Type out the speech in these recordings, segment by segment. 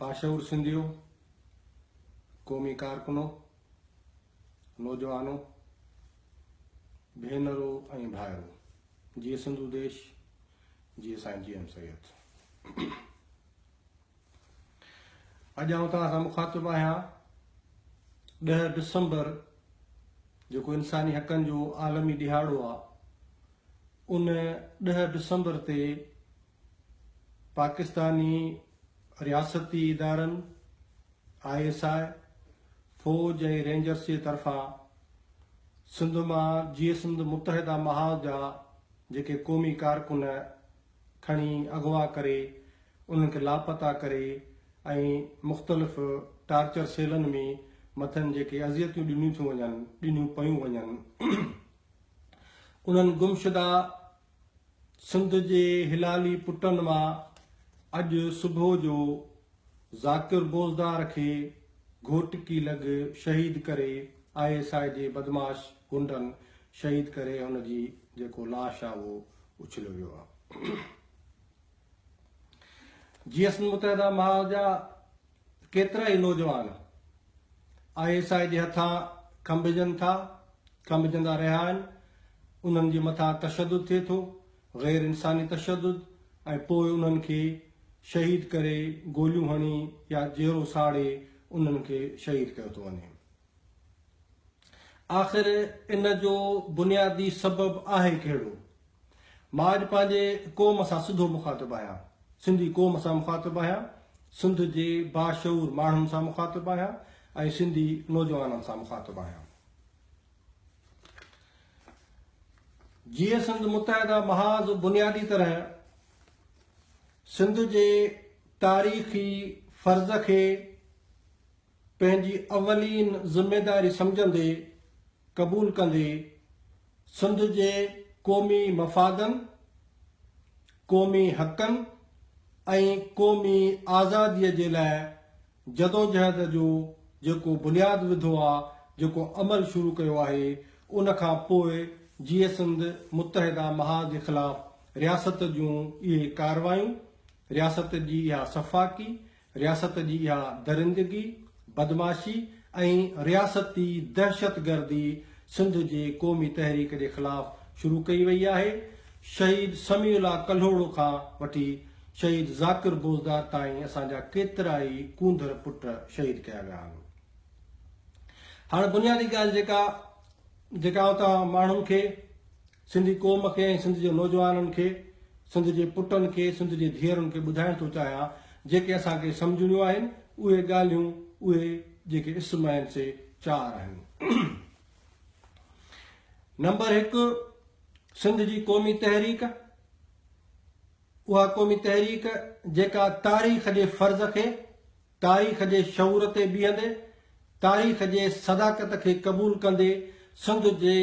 باشعور سنڌيو، قومي ڪارڪنو، نوجوانو، ڀينرو ۽ ڀائرو، جي سنڌو ديش، جي سائين جي ايم سيد. اڄ آئون توهان سان مخاطب آهيان ڏهه ڊسمبر جيڪو انساني حقن جو عالمي ڏهاڙو آهي ان ڏهه ڊسمبر تي پاڪستاني رياستي ادارن آء ايس آء فوج ۽ رينجرس جي طرفان سنڌ مان جيئي سنڌ متحده محاذ جا جيڪي قومي ڪارڪن کڻي اغوا ڪري انهن کي لاپتا ڪري ۽ مختلف ٽارچر سيلن ۾ مٿن جيڪي اذيتيون ڏنيون ٿيون وڃن ڏنيون پيون وڃن انهن گمشده سنڌ جي هلالي پٽن مان اڄ صبح جو ذاڪر بوزدار کي گهوٽڪي لڳ شهيد ڪري آء ايس آء جي بدمعاش غنڊن شهيد ڪري هن جي جيڪو لاش آ اهو اڇليو ويو آ جي ايس متحده ماء جا ڪيترا ئي نوجوان آء ايس آء جي هٿان کنڀجن ٿا کنڀجندا رهيا آهن انهن جي مٿان تشدد ٿئي ٿو غير انساني تشدد ۽ پوء انهن کي شهيد ڪري گوليون هڻي يا جيئرو ساڙي انهن کي شهيد ڪيو ٿو وڃي. آخر ان جو بنيادي سبب آهي ڪهڙو؟ مان اڄ پنهنجي قوم سان سڌو مخاطب آهيان، سنڌي قوم سان مخاطب آهيان، سنڌ جي باشعور ماڻهن سان مخاطب آهيان ۽ سنڌي نوجوانن سان مخاطب آهيان. جيئن سنڌ متحده محاذ بنيادي طرح سنڌ جي تاريخي فرض کي پنهنجي اولين ذميداري سمجهندي قبول ڪندي سنڌ جي قومي مفادن، قومي حقن ۽ قومي آزادي جي لاء جدوجهد جو جيڪو بنياد وڌو آ، جيڪو عمل شروع ڪيو آهي، ان کان پوء جيئي سنڌ متحده محاذ جي خلاف رياست جون اهي ڪارروايون، رياست جي اها سفاڪي، رياست جي اها درندگي، بدمعاشي ۽ رياستي دهشتگردي سنڌ جي قومي تحريڪ جي خلاف شروع ڪئي وئي آهي، شهيد سميع الله ڪلهوڙو کان وٺي شهيد ذاڪر بوزدار تائين اسان جا ڪيترا ئي ڪونڌر پٽ شهيد ڪيا ويا آهن. هاڻ بنيادي ڳالهه جيڪا جيڪا آئون توهان ماڻهن کي، سنڌي قوم کي ۽ سنڌ جي نوجوانن کي، سنڌ جي پٽن کي، سنڌ جي ڌيئرن کي ٻڌائڻ ٿو چاهيان، جيڪي اسان کي سمجهڻيون آهن، اهي ڳالهيون اهي جيڪي اسم آهن سي چار آهن. نمبر هڪ، سنڌ جي قومي تحريڪ. اها قومي تحريڪ جيڪا تاريخ جي فرض کي، تاريخ جي شعور تي بيهندي، تاريخ جي صداقت کي قبول ڪندي سنڌ جي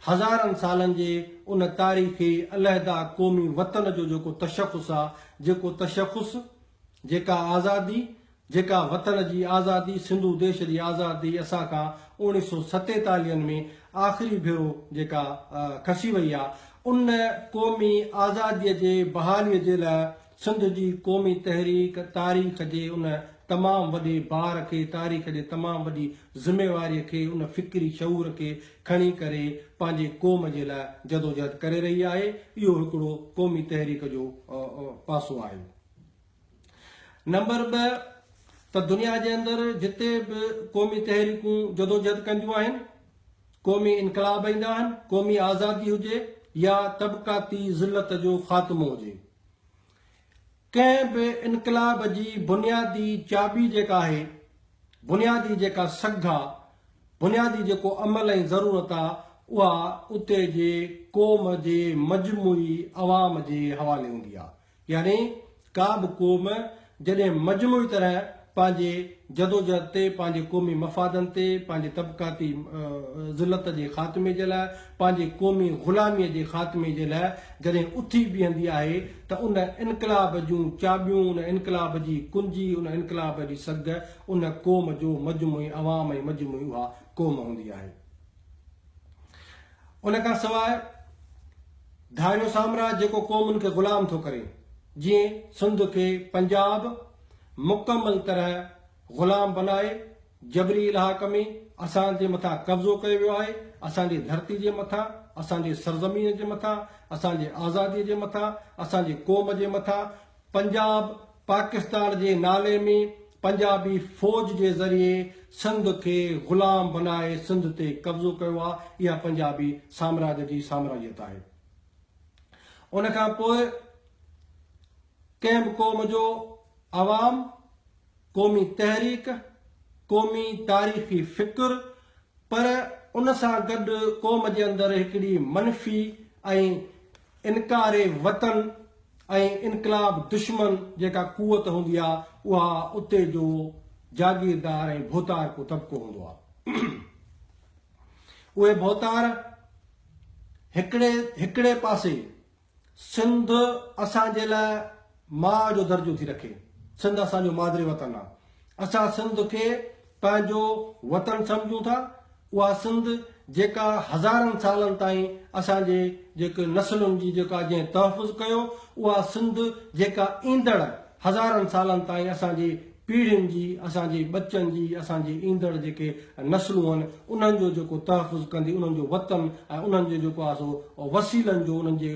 هزارن سالن جي ان تاريخي علحده قومي وطن جو جيڪو تشخص آ، جيڪو تشخص، جيڪا آزادي، جيڪا وطن جي آزادي، سنڌو ديش جي آزادي اسان کان اوڻيھ سؤ ستيتاليھن ۾ آخري ڀيرو جيڪا کسي وئي آ، ان قومي آزاديء جي بحاليء جي لاء سنڌ جي قومي تحريڪ تاريخ جي ان تمام وڏي بار کي، تاريخ جي تمام وڏي ذميواريء کي، ان فڪري شعور کي کڻي ڪري پنھنجي قوم جي لاء جدوجھد ڪري رھي آھي. اھو ھڪڙو قومي تحريڪ جو پاسو آھي. نمبر ٻه ته دنيا جي اندر جتي به قومي تحريڪون جدوجهد ڪنديون آهن، قومي انقلاب ايندا آهن، قومي آزادي هجي يا طبقاتي ذلت جو خاتمو هجي، ڪنهن به انقلاب جي بنيادي چاٻي جيڪا آهي، بنيادي جيڪا سگهه آ، بنيادي جيڪو عمل ۽ ضرورت آ، اها اتي جي قوم جي مجموعي عوام جي حوالي هوندي آ. يعني ڪا به قوم جڏهن مجموعي طرح پنهنجي جدوجهد تي، پنهنجي قومي مفادن تي، پنهنجي طبقاتي ذلت جي خاتمي جي لاء، پنهنجي قومي غلاميء جي خاتمي جي لاء جڏهن اٿي بيهندي آهي ته ان انقلاب جون چاٻيون، ان انقلاب جي ڪنجي، ان انقلاب جي سگهه ان قوم جو مجموعي عوام ۽ مجموعي اها قوم هوندي آهي. ان کان سواء ڌاريو سامراج جيڪو قومن کي غلام ٿو ڪري، جيئن سنڌ کي پنجاب مڪمل طرح غلام بنائي جبري الحاق ۾ اسان جي مٿان قبضو ڪيو ويو آهي، اسان جي ڌرتي جي مٿان، اسان جي سرزمين جي مٿان، اسان جي آزادي جي مٿان، اسان جي قوم جي مٿان پنجاب پاڪستان جي نالي ۾ پنجابي فوج جي ذريعي سنڌ کي غلام بنائي سنڌ تي قبضو ڪيو آ اها پنجابي سامراج جي سامراجيت آهي ان کان پوء ڪنهن به قوم جو عوام قومي تحريڪ قومي تاريخي فڪر پر ان سان گڏ قوم جي اندر هڪڙي منفي ۽ انڪار وطن ۽ انقلاب دشمن جيڪا قوت هوندي آ اها اتي جو جاگيردار ۽ ڀوتارڪو طبقو هوندو آ. اهي ڀوتار هڪڙي هڪڙي پاسي سنڌ اسان جي لاء ماء جو درجو ٿي رکي. سنڌ اسان جو مادري وطن آ. اسان سنڌ کي پنهنجو وطن سمجهون ٿا، اها سنڌ جيڪا هزارن سالن تائين اسان جي جيڪي نسلن جي جيڪا جنهن تحفظ ڪيو، اها سنڌ جيڪا ايندڙ هزارن سالن تائين اسان جي پيڙهين جي، اسان جي ٻچن جي، اسان جي ايندڙ جيڪي نسلون آهن انهن جو جيڪو تحفظ ڪندي، انهن جو وطن ۽ انهن جو جيڪو آهي سو وسيلن جو انهن جي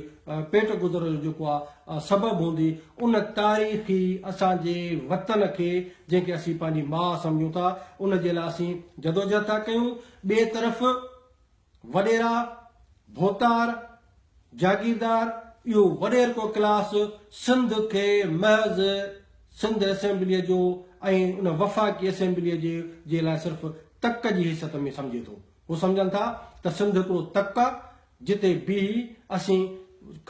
پيٽ گذر جو جيڪو آهي سبب هوندي، ان تاريخي اسان جي وطن کي جنهن کي اسين پنهنجي ماء سمجهون ٿا، ان جي لاء اسين جدوجهد ٿا ڪيون. ٻئي طرف وڏيرا، ڀوتار، جاگيردار، اهو وڏيرڪو ڪلاس سنڌ کي محض سنڌ اسيمبليء جو ۽ ان وفاقي اسيمبليء جي جي لاء صرف تڪ جي حيثيت ۾ سمجهي ٿو. هو سمجهن ٿا ته سنڌ هڪڙو تڪ آ، جتي بيهي اسين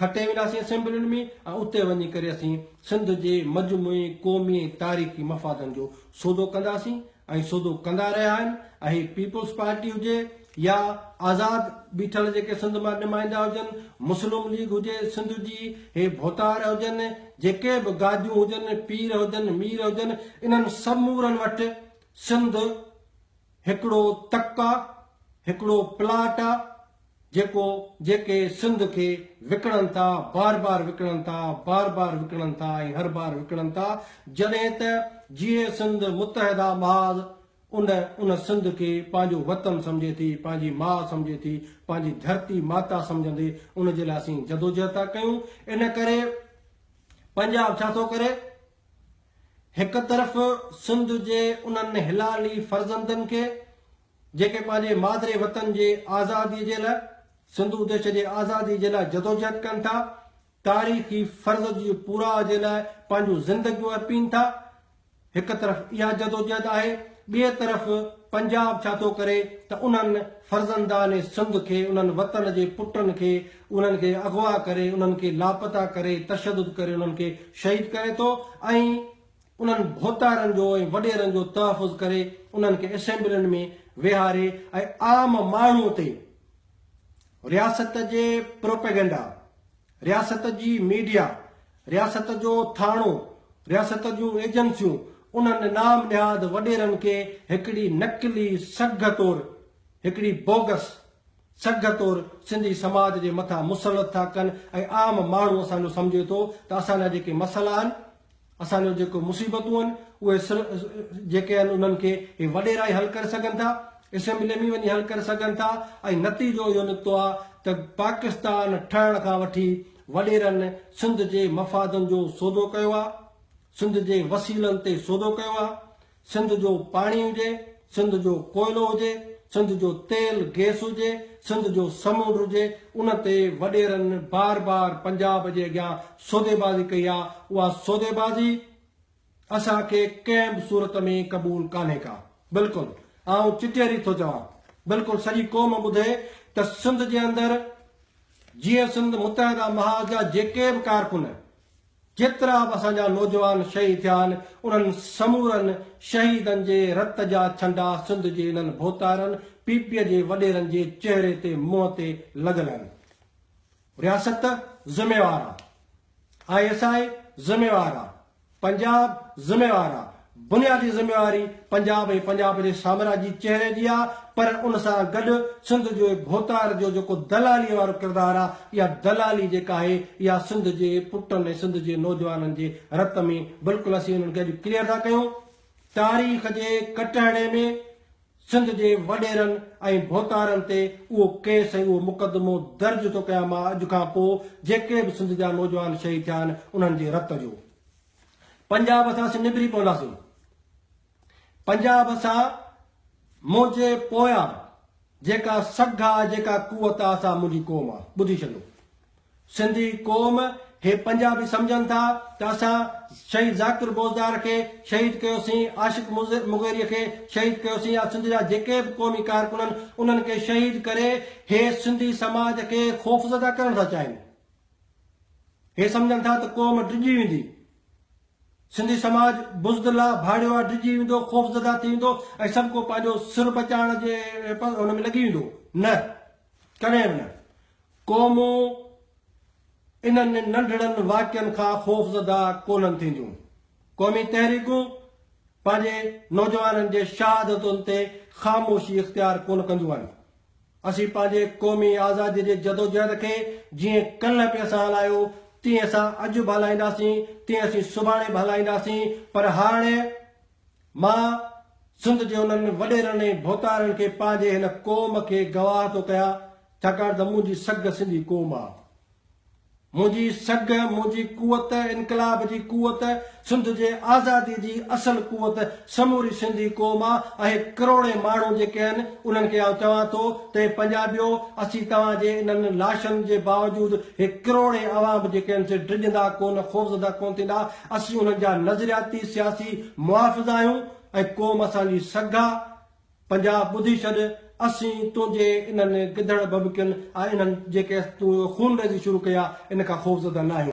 کٽي وينداسين اسيمبلين ۾ ۽ اتي وڃي ڪري اسين سنڌ جي مجموعي قومي ۽ تاريخي مفادن جو سودو ڪنداسين ۽ سودو ڪندا رهيا آهن ۽ هي پيپلز پارٽي هجي يا آزاد بيٺل جيڪي سنڌ مان نمائندا هجن مسلم ليگ هجي سنڌ جي هي ڀوتار هجن جيڪي به گاديون هجن پير هجن مير هجن انهن سمورن وٽ سنڌ هڪڙو تڪ آ، هڪڙو پلاٽ آ جيڪو جيڪي سنڌ کي وڪڻن ٿا، بار بار وڪڻن ٿا، بار بار وڪڻن ٿا ۽ هر بار وڪڻن ٿا، جڏهن ته جيئي سنڌ متحده محاذ ان ان سنڌ کي پنهنجو وطن سمجهي ٿي، پنهنجي ماء سمجهي ٿي، پنهنجي ڌرتي ماتا سمجهندي ان جي لاء اسين جدوجهد ٿا ڪيون، ان ڪري پنجاب ڇا ٿو ڪري؟ هڪ طرف سنڌ جي انهن حلالي فرزندن کي جيڪي پنهنجي مادري وطن جي آزادي جي لاء سنڌو ديش جي آزادي جي لاء جدوجهد ڪن ٿا، تاريخي فرض جي پورا جي لاء پنهنجون زندگيون ارپين ٿا، هڪ طرف اها جدوجهد آهي، ٻئي طرف پنجاب ڇا ٿو ڪري ته انهن فرزندان سنڌ کي، انهن وطن جي پٽن کي انهن کي اغوا ڪري، انهن کي لاپتا ڪري، تشدد ڪري انهن کي شهيد ڪري ٿو ۽ انهن ڀوتارن جو ۽ وڏيرن جو تحفظ ڪري انهن کي اسيمبلين ۾ ويهاري ۽ عام ماڻهو تي رياست جي پروپيگنڊا، رياست جي ميڊيا، رياست جو ٿاڻو، رياست جون ايجنسيون انهن نام نهاد وڏيرن کي هڪڙي نقلي سگهه طور هڪڙي بوگس، سگهه طور سنڌي سماج جي مٿان مسلط ٿا ڪن ۽ عام ماڻهو اسان جو سمجهي ٿو ته اسان جا جيڪي مسئلا آهن، اسان جون جيڪو مصيبتون آهن اهي سر جيڪي آهن انهن کي اهي وڏيرا ئي حل ڪري سگهن ٿا، اسيمبلي ۾ وڃي حل ڪري سگهن ٿا ۽ نتيجو اهو نڪتو آهي ته پاڪستان ٺهڻ کان وٺي وڏيرن سنڌ جي مفادن جو سودو ڪيو آهي، سنڌ جي وسيلن تي سودو ڪيو آهي، سنڌ جو پاڻي هجي، سنڌ جو ڪوئلو هجي، سنڌ جو تيل گيس هجي، سنڌ جو سمنڊ هجي، ان تي وڏيرن بار بار پنجاب جي اڳيان سوديبازي ڪئي آ، اها سوديبازي اسان کي ڪنهن به صورت ۾ قبول ڪانهي ڪا. بلڪل آئون چٽيري ٿو چوان، بلڪل سڄي قوم ٻڌي ته سنڌ جي اندر جيئن سنڌ متحده محاذ جا جيڪي به ڪارڪن، جيترا به اسان جا نوجوان شهيد ٿيا آهن، انهن سمورن شهيدن جي رت جا ڇنڊا سنڌ جي انهن ڀوتارن پي پي جي وڏيرن جي چهري تي منهن تي لڳل آهن. رياست ذميوار آ، آء ايس آء ذميوار آ، پنجاب ذميوار آ، بنيادي ذميواري پنجاب ۽ پنجاب جي سامراجي چهري جي آ پر ان سان گڏ سنڌ جي ڀوتار جو جيڪو دلالي وارو ڪردار آ اها دلالي جيڪا آهي اها سنڌ جي پٽن ۽ سنڌ جي نوجوانن جي رت ۾ بلڪل اسين انهن کي اڄ ڪليئر ٿا ڪيون تاريخ جي ڪٽهڙي ۾ سنڌ جي وڏيرن ۽ ڀوتارن تي اهو ڪيس ۽ اهو مقدمو درج ٿو ڪيان مان اڄ کان پو جيڪي به سنڌ جا نوجوان شهيد ٿيا آهن انهن جي رت جو. پنجاب اسان سين نبري پونداسين پنجاب اسان منهنجي پويان جيڪا سگھ آ جيڪا قوت آ سا منهنجي قوم آ ٻڌي ڇڏيو سنڌي قوم هي پنجابي سمجھن ٿا ته اسان شهيد ذاڪر بوزدار کي شهيد ڪيوسين عاشق مغيري کي شهيد ڪيوسين يا سنڌ جا جيڪي به قومي ڪارڪنن انهن کي شهيد ڪري هي سنڌي سماج کي خوفزده ڪرڻ ٿا چاهين هي سمجهن ٿا ته قوم ڊڄي ويندي. سنڌي سماج بزدل آ، ڀاڙيو آ، ڊڄي ويندو، خوفزده ٿي ويندو ۽ سڀ ڪو پنهنجو سر بچائڻ جي ان ۾ لڳي ويندو. نه. ڪڏهن به نه. قومون انهن ننڍڙن واقعن کان خوفزده ڪونهن ٿينديون. قومي تحريڪون پنهنجي نوجوانن جي شهادتن تي خاموشي اختيار ڪونه ڪنديون آهن. اسين پنهنجي قومي آزاديء جي جدوجهد کي جيئن ڪلهه پيء سان هلايو، تيئن اسان اڄ به هلائينداسين، تيئن اسين سڀاڻي به هلائينداسين، پر هاڻي مان سنڌ جي انهن وڏيرن ۽ ڀوتارن کي پنهنجي هن قوم کي گواهه ٿو ڪيان، ڇاڪاڻ ته منهنجي سگهه سنڌي قوم آ. منهنجي سگهه، منهنجي قوت، انقلاب جي قوت، سنڌ جي آزادي جي اصل قوت سموري سنڌي قوم آ، اهي ڪروڙين ماڻهو جيڪي آهن انهن کي آئون چوان ٿو ته اي پنجابيو اسين توهان جي انهن لاشن جي باوجود هي ڪروڙين عوام جيڪي آهن سي ڊڄندا ڪونه خوفزده ڪونه ٿيندا اسين انهن جا نظرياتي سياسي محافظ آهيون ۽ قوم اسان جي سگهه آ پنجاب ٻڌي ڇڏ، اسين تنهنجي انهن گدڙ ڀڀڪين ۽ انهن جي ڪيس تون اهو خونريزي شروع ڪئي آهي، ان کان خوفزده ناهيون.